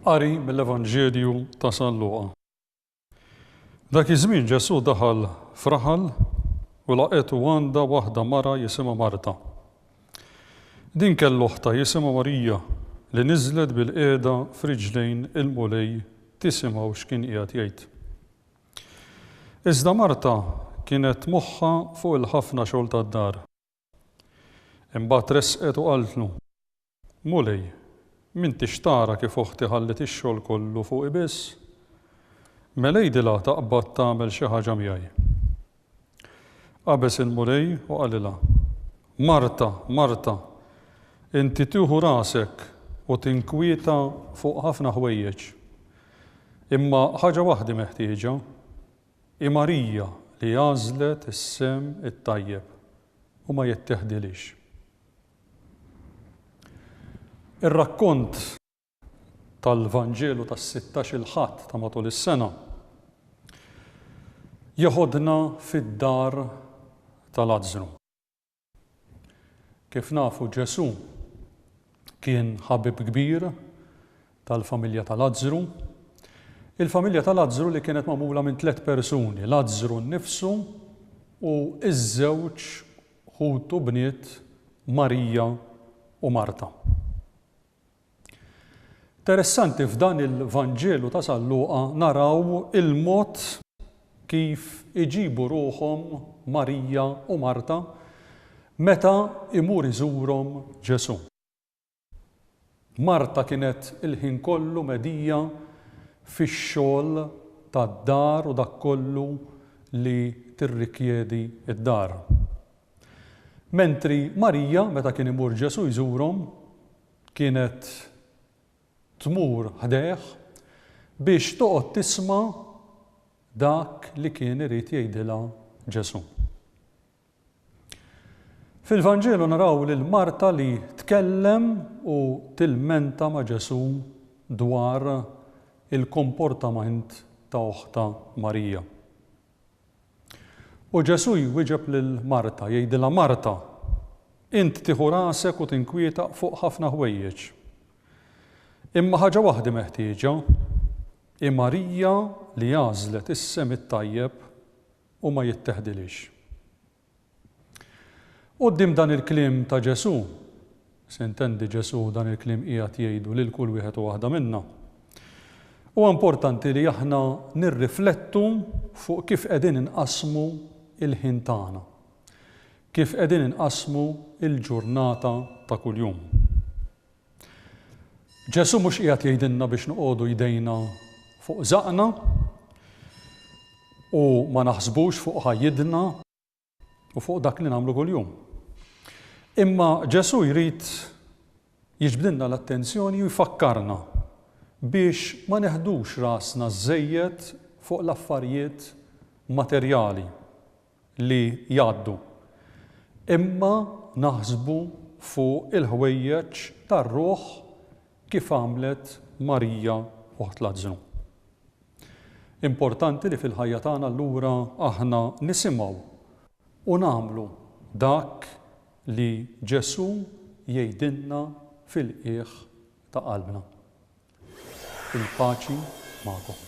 Qari mill-Evanġelju ta' San Luqa. Dak iż-żmien Ġesù daħal f'raħal u laqetu għandha waħda mara jisimha Marta. Din kellu oħta jisimha Marija li niżlet bil-qiegħda f'riġlejn il-Mulej tisimgħu x'kien qiegħed jgħid. Iżda Marta kienet moħħha fuq il-ħafna xogħol tad-dar. Imbagħad resqet u qaltlu, Mulej, m'intix tara kif oħti ħalliet ix-xogħol kollu fuqi biss? Mela għidilha taqbad tagħmel xi ħaġa miegħi. Qabeż il-Mulej u qalilha, Marta, Marta, inti tieħu rasek u tinkwieta fuq ħafna ħwejjeġ. Imma ħaġa waħda hi meħtieġa. Hi Marija li għażlet is-sehem it-tajjeb, u ma jitteħdilhiex. Ir-rakkont. tal-Vanġelu tas-sittax il-Ħadd ta' matul is-sena, jeħodna fid-dar ta' Lazzru. Kif nafu Ġesù kien ħabib kbir tal-familja ta' Lazzru. Il-familja ta' Lazzru li kienet magħmula minn tliet persuni, Lazzru nnifsu u ż-żewġ ħutu bniet Marija u Marta. Interessanti f'dan il-Vanġelu ta' San Luqa naraw il-mod kif iġibu ruħhom Marija u Marta meta imur iżurhom Ġesù. Marta kienet il-ħin kollu medija fix-xogħol tad-dar u dak kollu li tirrikjedi d-dar. Mentri Marija, meta kien imur Ġesù jżurhom, kienet tmur ħdejh biex toqgħod tisma' dak li kien irid jgħidilha Ġesù. Fil-Vanġelu naraw lil Marta li tkellem u tilmenta ma' Ġesù dwar il-komportament ta' oħtha Marija. U Ġesù jwieġeb lil Marta, jgħidilha, Marta, int tieħu rasek u tinkwietaq fuq ħafna ħwejjeġ. Imma ħaġa waħda hi meħtieġa, hi Marija li għażlet is-sehem it-tajjeb u ma jitteħdilhiex. Quddiem dan il-kliem ta' Ġesù, s'intendi Ġesù dan il-kliem qiegħed jgħidu lil kull wieħed u waħda minna, huwa importanti li aħna nirriflettu fuq kif qegħdin inqassmu l-ħin tagħna, kif qegħdin inqassmu l-ġurnata ta' kuljum. Ġesù mhux qiegħed jgħidilna biex noqogħdu jdejna fuq żaqna u ma naħsbux fuq ħajjidna u fuq dak li nagħmlu kuljum. Imma Ġesù jrid jiġbdilna l-attenzjoni u jfakkarna biex ma neħdux rasna żejjed fuq l-affarijiet materjali. li jgħaddu, imma naħsbu fuq il-ħwejjeġ tar-ruħ kif għamlet Marija oħt Lazzru. Importanti li fil-ħajja tagħna allura aħna nisimgħu u nagħmlu dak li Ġesù jgħidilna fil-qiegħ ta' qalbna. Il-paċi magħkom.